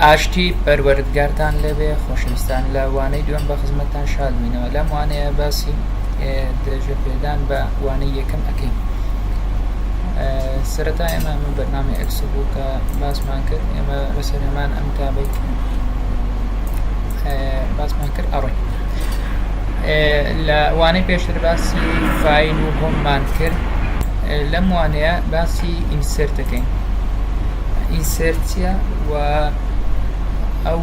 ئاشتی پەروەردگارتان لێبێ خۆشەویستان لە وانەی دووەم بە خزمەتتان شادبینەوە لەم وانەیە باسی درێژە پێدان بە وانەی یەکەم ئەکەین سەرەتا ئێمە من بەرنامی ئەکس بوو کە باسمان کرد ئێمە لەسەر هەمان ئەم تابێت باسمان کرد ئەڕێ لە وانەی پێشتر باسی فایل و هۆم مان کرد لەم وانەیە باسی ئینسێرت دەکەین ئینسێرت چیە و ئەو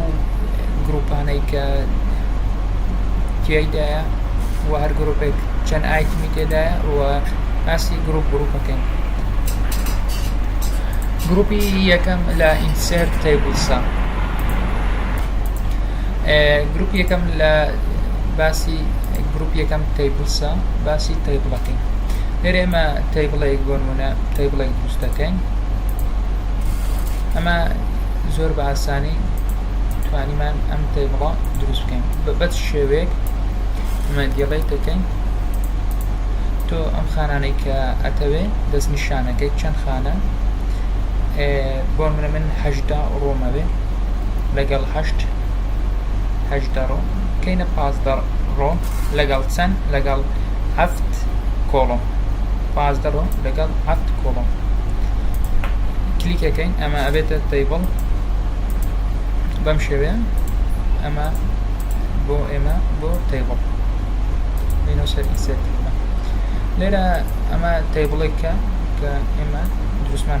گروپانەی کە تیایدایە و هەر گروپێک چەند ئایتمی تێدایە و باسی گروپ گروپەکەین گروپی یەکەم لە ئینسێرت تەیبڵسە گروپ یەکەم لە باسی گروپ یەکەم تەیبڵسە باسی تەیبڵەکەین لێرە ئێمە تەیبڵێک بۆ نمونە تەیبڵێک دروست دەکەین ئەمە زۆر بە ئاسانی توانیمان ئەم تەیبڵە دروست بکەین بەبەت شێوەیەک ئەمە دیڵێک دەکەین تۆ ئەم خانانەی کە ئەتەوێ دەست نیشانەکەی چەند خانە بۆ منە من هەشدا ڕۆمەوێ لەگەڵ هەشت هەشت دەڕۆ کەینە پازدە ڕۆ لەگەڵ چەند لەگەڵ هەفت کۆڵۆ پازدە ڕۆ لەگەڵ هەفت کۆڵۆ کلیکەکەین ئەمە ئەبێتە تەیبڵ بەم شێوەیە ئەمە بۆ ئێمە بۆ تەیبڵ لینۆ سەر ئینسێت لێرە ئەمە تەیبڵێکە کە ئێمە دروستمان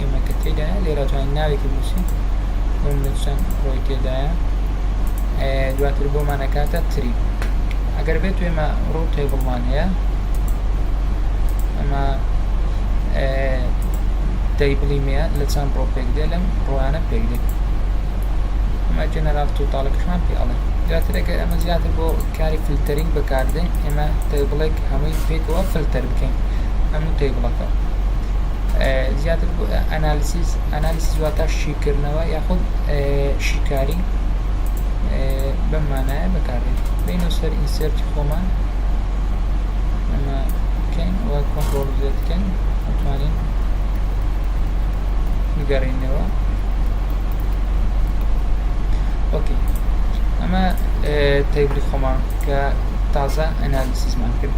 ئێمەکە تێدایە لێرا توانین ناوێکی بنووسین بۆ منە چەند ڕۆی تێدایە دواتر بۆمان ئەکاتە تری ئەگەر بێت ئێمە ڕوو تێبڵمان هەیە ئەمە دەیبڵی مەیە لە چەند ڕۆ پێک دێ لەم ڕۆیانە پێک دێت ئەمە جەنەرال توتاڵەکەشمان پێ ئەڵێ دواتر ئەگەر ئەمە زیاتر بۆ کاری فلتەرین بەکاردێ ئێمە تێبڵێک هەمووی پێکەوە فلتەر بکەین هەموو تێبڵەکە زیاتر بۆ ئەنالسیس، Analysis، واتە شیکردنەوە یاخود شیکاری بەم مانایە بەکاردێت بینە سەر ئینسێرتی خۆمان ئەمە بکەین و کۆنترۆڵ زێ بکەین ئەتوانین بگەڕینەوە ئۆکی ئەمە تەیبلی خۆمان کە تازە ئەنالسیزمان کرد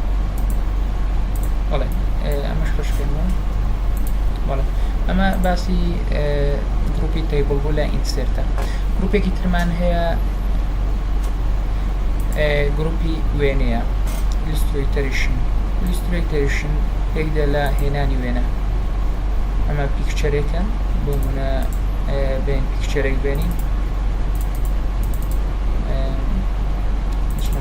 ئەمە باسی گروپی تەیبڵ بوو لە ئینسێرتە گروپێکی ترمان هەیە گروپی وێنەیە لیستری تریشن لیستری تریشن پێکدا لە هێنانی وێنە ئەمە پیکچەرێکە بۆ منە بێن پیکچەرێک بێنین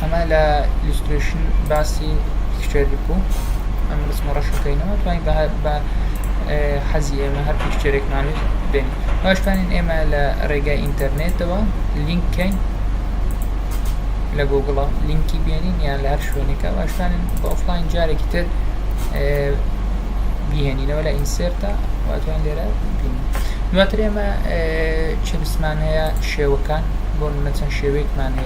ئەمە لە ئیلسترێشن باسی پیکچەر بوو ئەم ڕسمە ڕەشەکەینەوە توانین بە حەزی ئێمە هەر پیکچەرێکمانێت بێن باشتوانین ئێمە لە ڕێگای ئینتەرنێتەوە لینککەین لە گۆگڵە لینکی بێنین یان لە هەر شوێنێکە باشتوانین بە ئۆفلاین جارێکی تر بیهێنینەوە لە ئینسێرتە واتوان لێرە بین دواتر ئێمە چ بسمان هەیە شێوەکان بۆ منە چەند شێوەیەکمان هەیە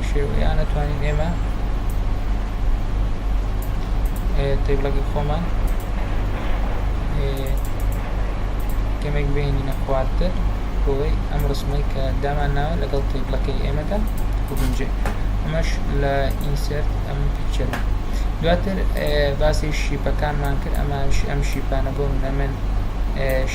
شێوە یان ئەتوانین ئێمە تیبلەکە خۆمان کەمێک بینینە خوارتر بۆی ئەم ڕسمەی کە دامان ناوە لەگەڵ تیبلەکەی ئێمەدا بگونجێ ئەمەش لە ئینسرت ئەم پیکچەر دواتر باسی شیپەکانمان کرد ئەمە ئەم شیپانە بۆ منەمن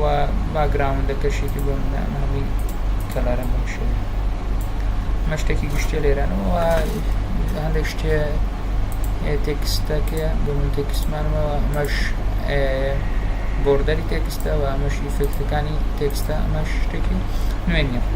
و باکگراوندەکەشی تر بۆ منە ئەمە هەمووی کەلەرن بەم شێوەیە ئەمە شتێکی گشتیە لێرانەوە هەندێک شتێ تێکستەکە بۆ من تێکستمانەوە ئەمەش بۆردەری تێکستەوە ئەمەش ئیفێکتەکانی تێکستە ئەمەش شتێکی نوێنیە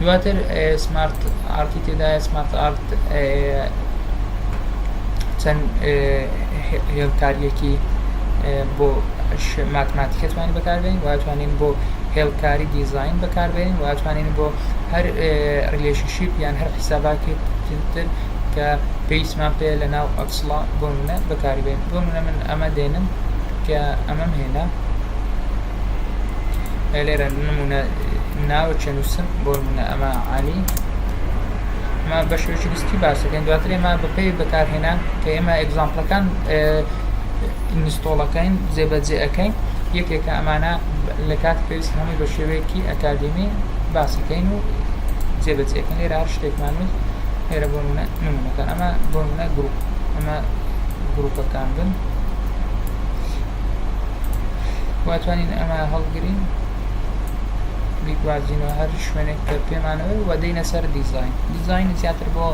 دواتر سمارت ئارتی تێدایە سمارت ئارت چەند هێڵکاریەکی بۆ ماتماتیکە توانین بەکاربێن واتوانین بۆ هێڵکاری دیزین بەکاربێن واتوانین بۆ هەر ریلشنشیپ یان هەر حیساباتی تر کە پێیسمان پێ لە ناو ئەفسڵا بۆ منە بەکاربێن بۆ منە من ئەمە دێنم کە ئەمەم هێنا لێرە نمونە ناوە چێ نووسن بۆ نمونە ئەمە عالی ئەمە بە شێوەی گستی باسەکەن دواتر ئێمە بەپی بەکارهێنان کە ئێمە ئەگزامپلەکان ئینستۆڵەکەین جێبەجێ ئەەکەین یەکێکە ئەمانە لە کات پێویست هەمووی بە شێوەیەکی ئەکادمی باسەکەین و جێبەجێکەن لێرە هەر شتێکمان و لێرە بۆ منە نمونەکان ئەمە بۆ منە گروپ ئەمە گروپەکان بن وا توانین ئەمە هەڵگرین بیگوازینەوە هەر شوێنێک کە پێمانەوە و دەینە سەر دیزین دیزین زیاتر بۆ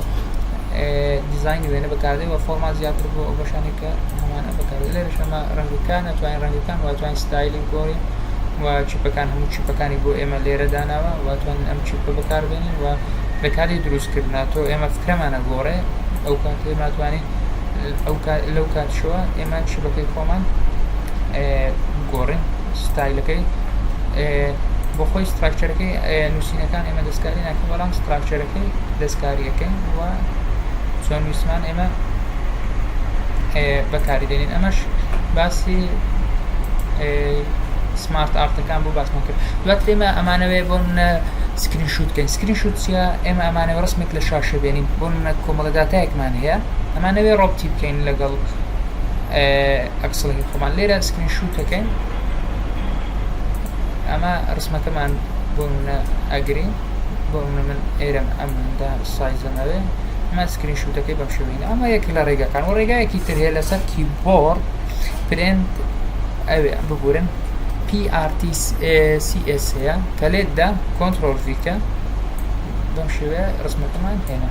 دیزین وێنە بەکاردێ و فۆرما زیاتر بۆ ئەو بەشانێک کە هەمانە بەکار لێرە شەمە ڕەنگەکان ناتوانین ڕەنگەکان واتوان ستایلی گۆڕی و چیپەکان هەموو چیپەکانی بۆ ئێمە لێرە داناوە واتوان ئەم چیپە بەکاربێنین و لە کاری دروستکردنا تۆ ئێمە فکرەمانە گۆڕێ ئەو کاتێ ماتوانین لەوکاتیشەوە ئێمە شەبەکەی خۆمان بگۆڕین ستایلەکەی بۆخۆی ستراکچەرەکەی نووسینەکان ئێمە دەستکاری ناکەین بەڵام ستراکچەرەکەی دەستکاریەکەین و چۆن نووسمان ئێمە بەکاری دێنین ئەمەش باسی سمارت ئارتەکان بۆ باسمان کرد دوات ئێمە ئەمانەوێ بۆ منە سکرین شووتکەین سکرین شووتە ئێمە ئەمانەوە ڕستمێک لە شاشە بێنین بۆ منە کۆمەڵەداتایەکمان هەیە ئەمانەوێ ڕەبتی بکەین لەگەڵ ئەکسڵی خۆمان لێرە سکرین شووتەکەین ئەمە ڕسمەکەمان بۆ منە ئەگرین بۆ منە من ئێرەم ئەمدا سایزەمەوێ ئەمە سکرین شووتەکەی بەم شوێنە ئەمە یەک لە ڕێگەکان و ڕێگایەکی تر هەیە لەسەر کیبۆرد پرنت ئەوێ ببورن PRTCS هەیە کە لێتدا کۆنتترۆل ڤیکە بەم شێوەیە ڕسمەکەمان هێنا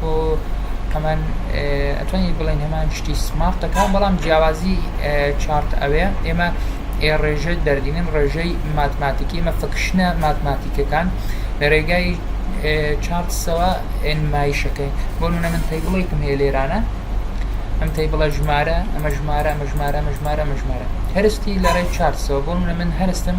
بۆ ئەمان ئەتوانی بڵێن هەمان شتی سمارت دەکەن بەڵام جیاوازی چارت ئەوێ ئێمە ڕێژەی دەردینن ڕێژەی ماتماتیکی ئمە فکشنە ماتماتیکەکان لە ڕێگای چارتسەوە ئێنمایشەکەی بۆ نونە من پێی بڵێکم هەیە لێرانە ئەم تی بڵە ژمارە ئەمە ژمارە ئەمە ژمارە ئەمە ژمارە ئەمە ژمارە هەرستی لە ڕێی چارتسەوە بۆ نونە من هەرستم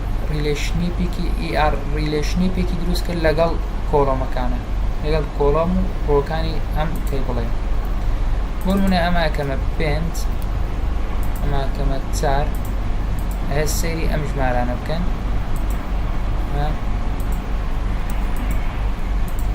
ڕیلەیشنیپێکی دروست کرد لەگەڵ کۆڵۆمەکانە لەگەڵ کۆڵۆم و ڕووەکانی ئەم کەیبڵەی بۆ نموونە ئەمە ئەکەمە 5 ئەمە ئەکەمە 4 ئەهێ سەیری ئەم ژمارانە بکەن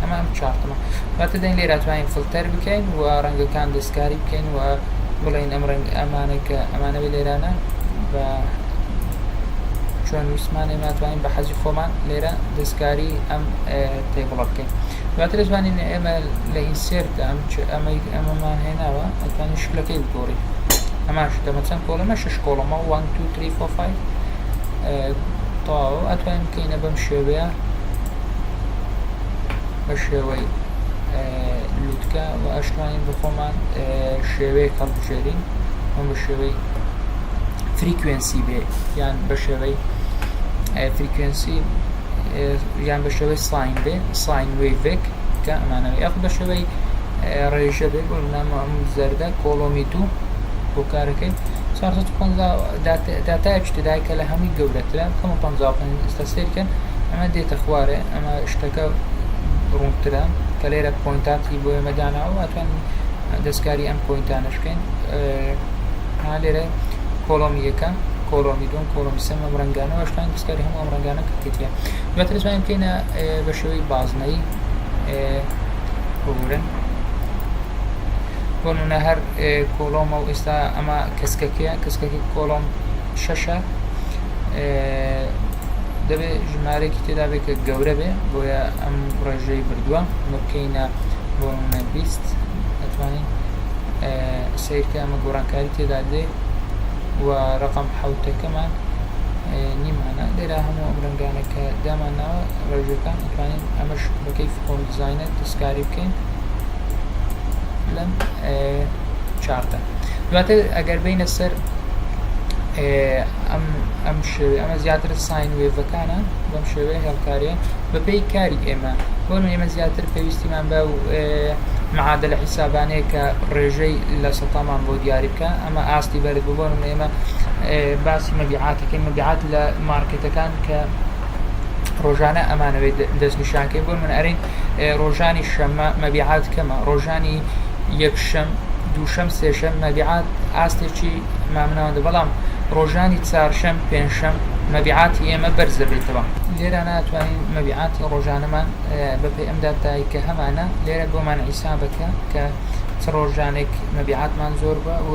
ئەمە ئەم چارتەمە واتە دەین لێرە توانین فلتەر بکەین و ڕەنگەکان دەستکاری بکەین و بڵین ئەم ڕەنگ ئەمانە کە ئەمانە بە لێرانە بە چۆن ویسمان ئێمە توانین بە حەزی خۆمان لێرە دەستکاری ئەم تێبڵە بکەین دواتر توانین ئێمە لە ئینسرت ئەم ئەمەی ئەمەمان هێناوە ئەتوانین شکلەکەی بگۆڕی ئەماش دەمە چەند کۆڵەمە شش کۆڵەمە 1 2 3 4 5 تاو ئەتوانین بکەینە بەم شێوەیە بە شێوەی لوتکە و ئەشتوانین بە خۆمان شێوەیە کەڵبژێرین ئەم بە شێوەی فریکوێنسی بێ یان بە شێوەی فریکوێنسی یان بە شێوەی ساین بێ ساین وێڤێک کە ئەمانەوە یاخ بە شێوەی ڕێژە بێ بۆ نامە ئەم زەردە کۆڵۆمی دوو بۆ کارەکەی 450 داتایەکی تدای کە لە هەمووی گەورەترە کەمە 55 سەیر کەن ئەمە دێتە خوارێ ئەمە شتەکە ڕوونترە کە لێرە پۆینتاتی بۆ ئێمە داناوە ئەتوانین دەستکاری ئەم پۆینتانەش بکەین لێرە کۆڵۆمی یەکە کۆڵۆمی دوم کۆڵۆمی سێم ئەم ڕەنگانەوە شتان دەستکاری هەموو ئەم ڕەنگانە کردێتە دواتر توانین بکەینە بە شێوەی بازنەی ببورن بۆنە هەر کۆڵۆمە و ئێستا ئەمە کەسکەکەیە کەسکەکە کۆڵۆم شەشە دەبێت ژمارەێکی تێدا بێت کە گەورە بێ بۆیە ئەم ڕێژەی بردووە ئەمە بکەینە بۆ منە بیست ئەتوانین سیرکە ئەمە گۆڕانکاری تێدا دێ و ڕقم حوتەکەمان نیمانە لێرا هەموو ئەم ڕنگانە کە دامان ناوە ڕێژەکان ئەتوانین ئەمەش بەکەی فۆن دیزینە دەستکاری بکەین لەم چارتە دواتر ئەگەر بینە سەر ئەم شێوێ ئەمە زیاتر ساین وێڤەکانە بەم شێوەیە هێڵکارێ بەپی کاری ئێمە بۆ ئێمە زیاتر پێویستیمان بە معادە لە حیسابانەیە کە ڕێژەی لە سەتامان بۆ دیاری بکە ئەمە ئاستی بەرز ببوون و ئێمە باسی مەبیعاتەکەی مەبیعات لە مارکێتەکان کە ڕۆژانە ئەمانەوەی دەستنیشانکەی بۆ من ئەرین ڕۆژانی شەممە مەبیعات کەمە، ڕۆژانی یەکشەم، دووشەم، سێشەم مەبیعات ئاستێکی مامناوەندە، بەڵام ڕۆژانی چارشەم، پێنجشەم مەبیعاتی ئێمە بەرز دەبێتەوە. لێرانە ئەتوانین مەبیعاتی ڕۆژانەمان بەپێی ئەم داتایەکە هەمانە، لێرە بۆمان حیسابەکە کە چ ڕۆژانێک مەبیعاتمان زۆر بووە و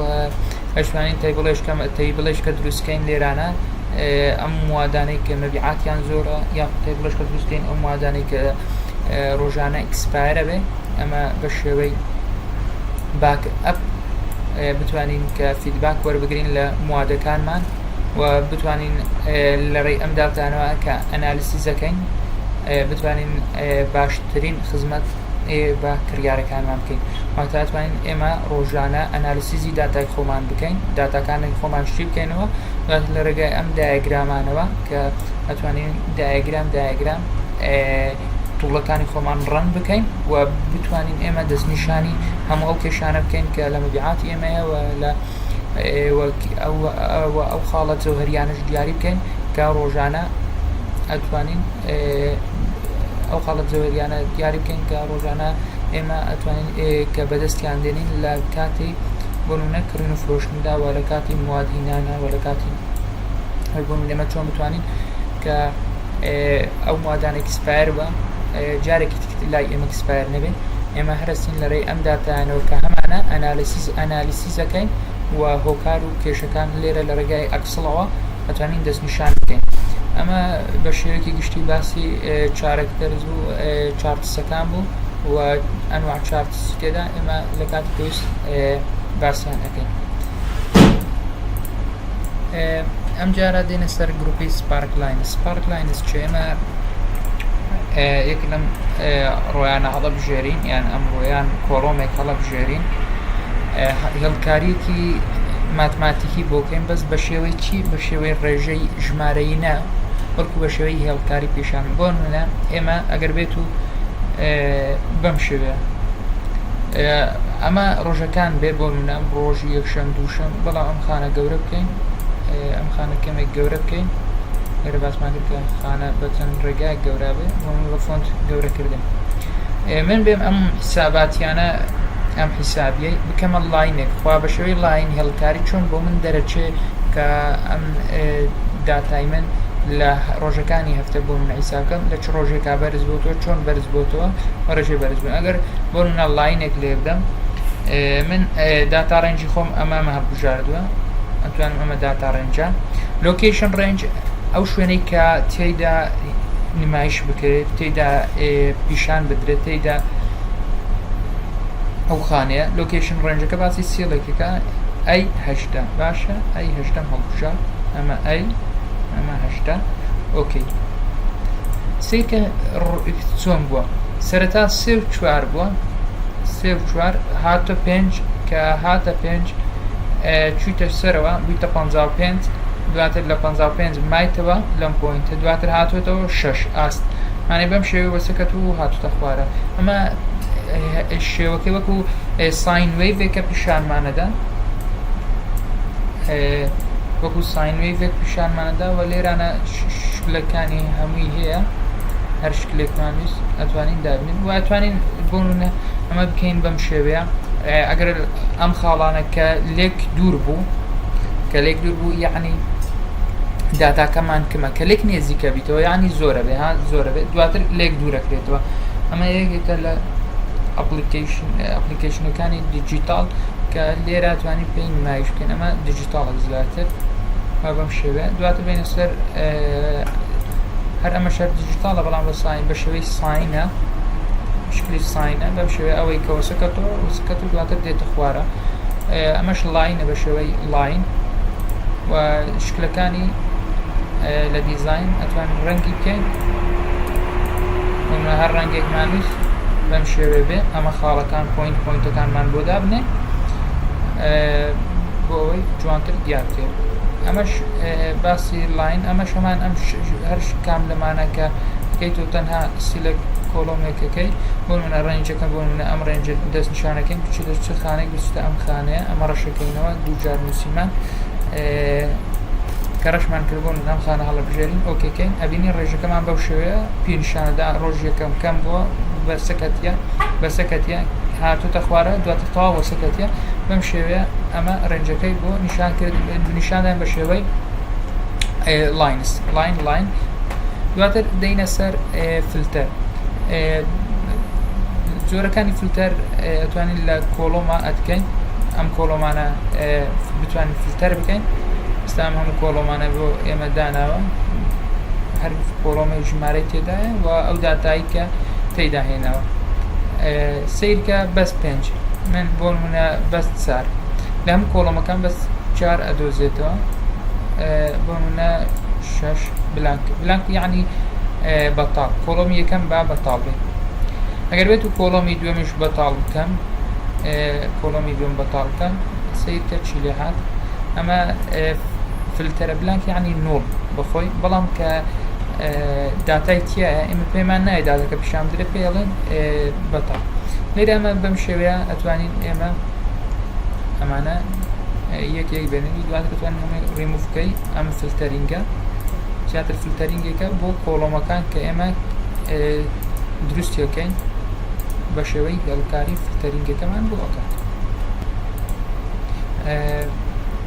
ئەتوانین تەیبڵێک کە دروستکەین لێرانە. ئەم موادانەی کە مەبیعاتیان زۆرە یاخود تای بڵێشکە دروست بکەین ئەو موادانەی کە ڕۆژانە ئیکسپایرە بێ ئەمە بە شێوەی باک ئەپ بتوانین کە فیدباک وەربگرین لە موادەکانمان و بتوانین لە ڕێی ئەم داوتانەوە کە ئەنالیسیزەکەین بتوانین باشترین خزمەت بە کڕیارەکانمان بکەین واتاتوانین ئێمە ڕۆژانە ئەنالیسیزی داتای خۆمان بکەین داتاکانی خۆمان شتی بکەینەوە لە ڕێگای ئەم دایەگرامانەوە کە ئەتوانین دایەگرام دایەگرام توڵەکانی خۆمان ڕەن بکەین و بتوانین ئێمە دەستنیشانی هەموو ئەو کێشانە بکەین کە لە مەبیعاتی ئێمەیەوە لە ئەو خاڵە جەوهریانش دیاری بکەین کە ڕۆژانە ئەتوانین ئەو خاڵە جەوەریانە دیاری بکەین کە ڕۆژانە ئێمە ئەتوانین کە بەدەستیان دێنین لە کاتی بۆنونەک کڕین و فرۆشتندا و لە کاتی مواد هینانە و لە کاتی هەر بۆ نمونە ئێمە چۆن بتوانین کە ئەو موادانە ئێکسپایەر بە جارێکی تر لای ئێمە ئێکسپایەر نەبێت ئێمە هەرەستین لە ڕێی ئەم داتایانەوە کە هەمانە ئەنالیسیز ئەنالیسیزەکەین و هۆکار و کێشەکان لێرە لە ڕێگای ئەکسڵەوە ئەتوانین دەستنیشان بکەین ئەمە بە شێوەیەکی گشتی باسی چارەکتەرز و چارتسەکان بوو و ئەنواع چارت سوتێدا ئێمە لە کاتی پێویست باسیان ئەەکەین ئەم جارە دێنە سەر گروپی سپارک لاین سپارک لاینس چ ئێمە یەک لەم ڕۆیانە هەڵە بژێرین یان ئەم ڕۆیان کۆڵۆمێک هەڵە بژێرین هەڵکاریەکی ماتماتیکی بۆکەین بەس بە شێوەی چی بە شێوەی ڕێژەی ژمارەی نە بەڵکو بە شێوەی هێڵکاری پیشان بۆ منە ئێمە ئەگەر بێت و بەم شێوەیە ئەمە ڕۆژەکان بێ بۆ منام ڕۆژی یەکشەم دووشەم بەڵام ئەم خانە گەورە بکەین ئەم خانە کەمێک گەورە بکەین لێرە باسمان کرد کە خانە بە چەند ڕێگای گەورا بێ من بە فۆنت گەورەکردن من بێم ئەم حساباتیانە ئەم حیسابیە بکەمە لاینێک خوا بە شێوەی لاین هێڵکاری چۆن بۆ من دەرەچێ کە ئەم داتای من لە ڕۆژەکانی هەفتە بۆ من عیسابکەم لە چ ڕۆژێکا بەرز بۆتەوە چۆن بەرز بۆتەوە و ڕێژێ بەرز بن ئەگەر بۆ منە لاینێک لێ بدەم من داتا ڕێنجی خۆم ئەمامە هەبژاردووە ئەتوانم ئەمە داتا ڕێنجە لۆکیشن ڕێنج ئەو شوێنەی کە تێیدا نمایش بکرێت تێدا پیشان بدرێت تێدا ئەو خانەیە لۆکیشن ڕێنجەکە باسی سیڵێکەکە ئەی هەشت هەشتە باشە ئای هەشتەم هەڵبژە ئەمە ئای ئەمە هەشتا ئۆکەی سیکە چۆن بووە سەرەتا سێ و چوار بووە سێ و چوار هاتە پێنج کە هاتە پێنج چویتە سەرەوە بوویتە پ پێنج دواتر لە پ پێنج مایتەوە لەم پۆینتە دواتر هاتوێتەوە شش ئاست مانێ بەم شێوە وەسەکەت و هاتوتە خوارە ئەمە شێوەکەی وەکو ساین وی بێکە پیشانمانەدا وەکو ساین وەیڤێک پیشانمانەدا و لێرانە شکلەکانی هەمووی هەیە هەر شکلێکمان ویست ئەتوانین دابنین و ئەتوانین بۆنە ئەمە بکەین بەم شێوەیە ئەگەر ئەم خاڵانە کە لێک دوور بوو کە لێک دوور بوو یعنی داتاکەمان کمە کە لێک نێزیکە بیتەوە ینی زۆرە بێ ها زۆرە بێت دواتر لێک دوورەکرێتەوە ئەمە یەکێکە لە ئەپلیکیشنەکانی دیجیتال کە لێرە توانی پێی نمایش بکەین ئەمە دیجیتاڵە زیاتر وا بەم شێوەیە دواتر بینە سەر هەر ئەمە شەر دیجیتاڵە بەڵام بە ساین بە شێوەی ساینە شکلی ساینە بەم شێوە ئەوەی کەوەسەکەەوە وسکەت و دواتر دێتە خوارە ئەمەش لاینە بە شێوەی لاین و شکلەکانی لە دیزین ئەتوان ڕەنگی بکەین ئێمە هەر ڕەنگێکمانویست بەم شێوێ بێ ئەمە خاڵەکان پۆینت پۆینتەکانمان بۆ دابنێ بۆ ئەوەی جوانتر دیار بکەین ئەمەش باسی لاین ئەمە شەمان ئەم هەر کام لەمانەکە بکەیت و تەنها سیلک کۆڵۆمێکەکەی بۆ منە ڕێنجەکە بۆ منە ئەم ڕێنج دەست نیشانەکەی بچ لە چ خانێک بچتە ئەم خانەیە ئەمە ڕەشەکەینەوە دووجار نووسیمان کە ڕشمان کردبوون ئەم خانە هەڵبژێرین ئۆکەکەین ئەبینی ڕێژەکەمان بەو شێوەیە پێنجشەممەدا ڕۆژی یەکەم کەم بووە بە سەکەتیە بە سەکەتیە هاتوتە خوارە دواتر تەواو بە سەکەتیە بەم شێوەیە ئەمە ڕێنجەکەی بۆ نیشان کرد نیشانیان بە شێوەی لاینس لاین لاین دواتر دەینە سەر فلتەر جۆرەکانی فلتەر ئەتوانین لە کۆڵۆما ئەتکەین ئەم کۆڵۆمانە بتوانین فلتەر بکەین ئستام هەموو کۆڵۆمانە بۆ ئێمە داناوە فۆڕۆمە و ژمارەی تێدایە و ئەو داتایی کە تێیدا هێناوە سیرکە بەس پێنج من بۆ نمونە بەس چار لە هەم کۆڵۆمەکان بەس چار ئەدۆزێتەوە بۆ نمونە شش بلانک بلانک یعنی بەتاڵ کۆڵۆمی یەکەم با بەتاڵ بێت ئەگەر بێت و کۆڵۆمی دوێمش بەتاڵ بکەم کۆڵۆمی دوێم بەتاڵ بکەم سیرکە چی لێ هات ئەمە فلتەرە بلانک یانی نوڵ بەخۆی بەڵام کە داتای تایە ئمە پێمان نایە داتەکە پیشان بدرێت پێڵێن بەتا لێرە ئەمە بەم شێوەیە ئەتوانین ئێمە ئەمانە یەکێک بێنی دوات بتوان ڕیموفکەی ئەم فلتەرینگە زیاتر فلتەرینگێکە بۆ کۆڵۆمەکان کە ئێمە دروستیەکەین بە شێوەی هێڵکاری فلتەرینگەکەمان بۆ ئەکات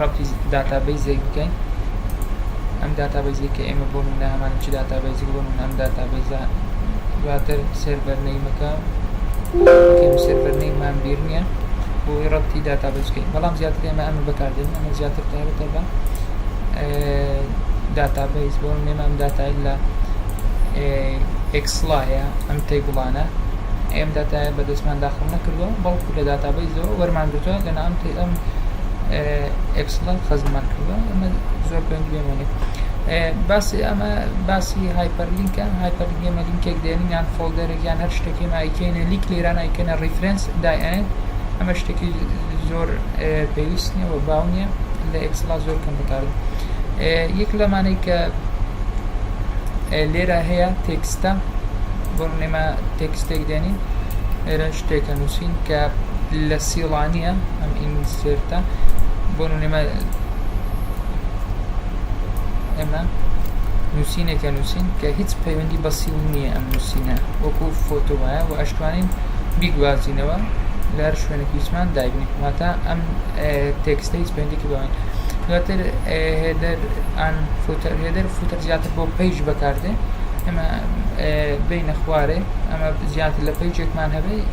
ڕەبتی داتابەیزێک بکەین ئەم داتابەیزەی کە ئێمە بۆ نمونە هەمان چ داتابەیزێک بۆ نمونە ئەم داتابەیزە دواتر سێرڤەر نەیمەکە بکەین سێرڤەر نەیمان بیر نییە بۆی ڕەبتی داتابەیز بکەین بەڵام زیاتر ئێمە ئەمە بەکاردێن ئەمە زیاتر تایبەتە بە داتابەیز بۆ نێمە ئەم داتای لە ئەکسڵا هەیە ئەم تەیبڵانە ئێم داتای بەدەستمان داخڵ نەکردووە بەڵکو لە داتابەیزەوە وەرمانگرتووە لەنا ئەم ئەم ئێکسڵەر خزممان کردووە ئەمە زۆر پێ گوێمانی باسی ئەمە باسی هایپەرلینکە هایپەرلینک ئێمە لینکێک دێنین یان فۆلدەرێک یان هەر شتێکی مایکەینە لیک لێران ئایکەنە ڕیفرەنس دایێن ئەمە شتێکی زۆر پێویست نیە و باو نیە لە ئێکسڵا زۆر کەم بەکار یەک لەمانەی کە لێرە هەیە تێکستە بۆ نێمە تێکستێک دێنین لێرە شتێکە نووسین کە لە سیڵانیە ئەم ئینسێرتە بۆ نمونە ئێمە نووسینێکە نووسین کە هیچ پەیوەندی بەسی و نییە ئەم نووسینە وەکو فۆتۆ وایە و ئەشتوانین بیگوازینەوە لە هەر شوێنێک هیچمان دایبنین واتە ئەم تێکستە هیچ پەیوەندێکی بەوەین دواتر هێدەر ئان فوتەر هێدەر فوتەر زیاتر بۆ پەیج بەکاردێ ئەمە بینە خوارێ ئەمە زیاتر لە پەیجێکمان هەبێ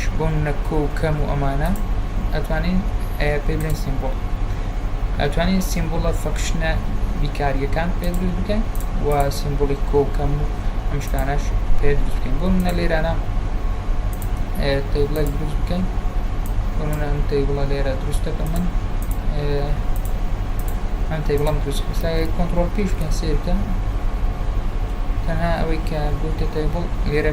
ش بۆم نەکۆ و کەم و ئەمانە ئەتوانین ئەیە پێ بلێن سیمبوڵ ئەتوانین سیمبوڵە فەکشنە بیکاریەکان پێ دروست بکەین و سیمبوڵی کۆ و کەم و ئەم شتانەش پێ دروست بکەین بۆ منە لێرانە تەیبڵێک دروست بکەین بۆ منە ئەم تەیبڵە لێرە دروست دەکە من ئەم تەیبڵم دروست ئێستا کۆنتترۆل پیش بکەین سێ بکەم تەنها ئەوەی کە بۆتە تەیبڵ لێرە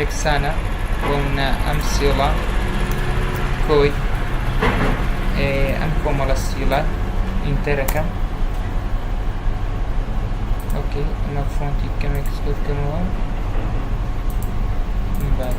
یەکسانە بۆ منە ئەم سیڵە کۆی ئەم کۆمەڵە سیڵە ئینتەرەکەم ئۆکەی ئەمە فۆنتی کەمێک زۆر کەمەوە بعد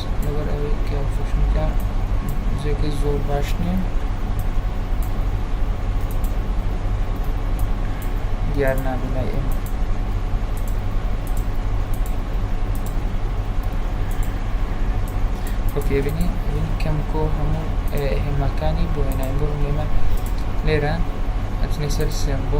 لەبەر ئەوەی کە فشنکە جێگەی زۆر باش نییە دیار نابێ لای ئێمە خۆپێبینی کەمکۆ هەموو هێماکانی بۆ هێنای بۆ نێمە لێرە ئەتنی سەر سێم بۆ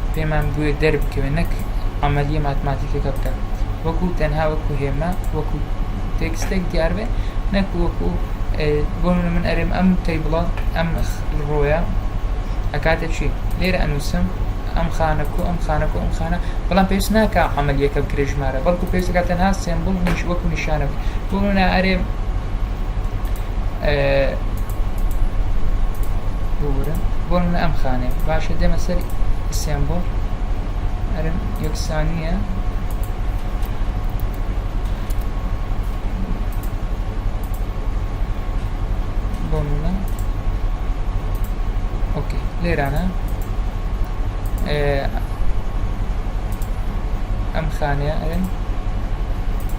پێمان بوێت دەربکەوێت نەک عەمەلیە ماتماتیکەکە بکات وەکو تەنها وەکو هێما وەکو تێکستێک دیار بێ نەک وەکو بۆ منە من ئەرێم ئەم تەیبڵە ئەم ڕۆیە ئەکاتە چی لێرە ئەنووسم ئەم خانە کو ئەم خانە کو ئەم خانە بەڵام پێست ناکە عملیەکە بکرێژمارە بەڵکو پێستەکە تەنها سمبل نیش وەکو نیشانە بۆ منە ئەرێ ببورە بۆ من ئەم خانێ باشە دێمە سەر سێمبۆل ئەرم یەکسانیە بۆ منە ئۆکەی لێرانە ئەم خانەیە ئەرم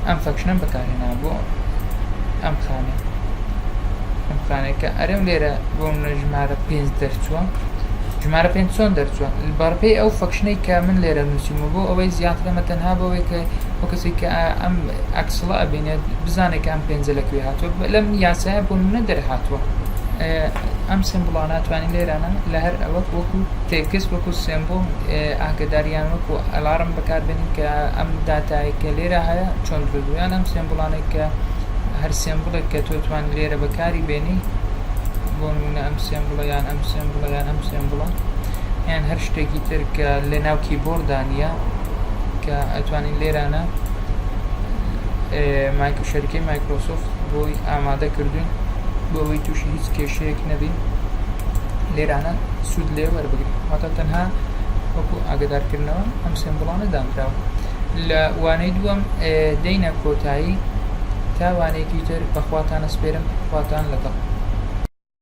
ئەم فەکشنم بەکارهێنا بۆ ئەم خانە ئەم خانەکە ئەرێم لێرە بۆ منە ژمارە پێنج دەرچووە ژمارە پێ چۆن دەرچووە بەڕپی ئەو فەکشنەی کە من لێرە نووسیمە بۆ ئەوەی زیاترەمە تەنها بەوەی کە ئەو کەسی کە ئەم ئەکسڵە ئەبینێت بزانێت کە ئەم پێنجە لەکوێ هاتووە لەم یاسایە بۆ منە دەرهاتووە ئەم سمبڵا ناتوانین لێرانە لە هەر ئەوەک وەکو تێکس وەکو سمبڵ ئاگداریان وەکو ئەلارم بەکاربێنین کە ئەم داتایە کە لێرە هەیە چ هەڵگرت و یان ئەم سێمبڵانەی کە هەر سێمبڵێک کە تۆ توانی لێرە بەکاری بێنی بۆ نمونە ئەم سێمبڵە یان ئەم سێمبڵە یان ئەم سێمبڵە یان هەر شتێکی تر کە لە ناو کیبۆردانە کە ئەتوانین لێرانە مایکرو شەرکەی مایکرۆسۆفت بۆی ئامادە کردوین بۆ ئەوەی تووشی هیچ کێشەیەک نەبین لێرانە سوود لێ وەربگرین واتە تەنها وەکو ئاگدارکردنەوە ئەم سێمبڵانە دانراوە لە وانەی دووەم دێینە کۆتایی تا وانەیەکی تر بەخواتانە سپێرم خواتان لەگەڵ.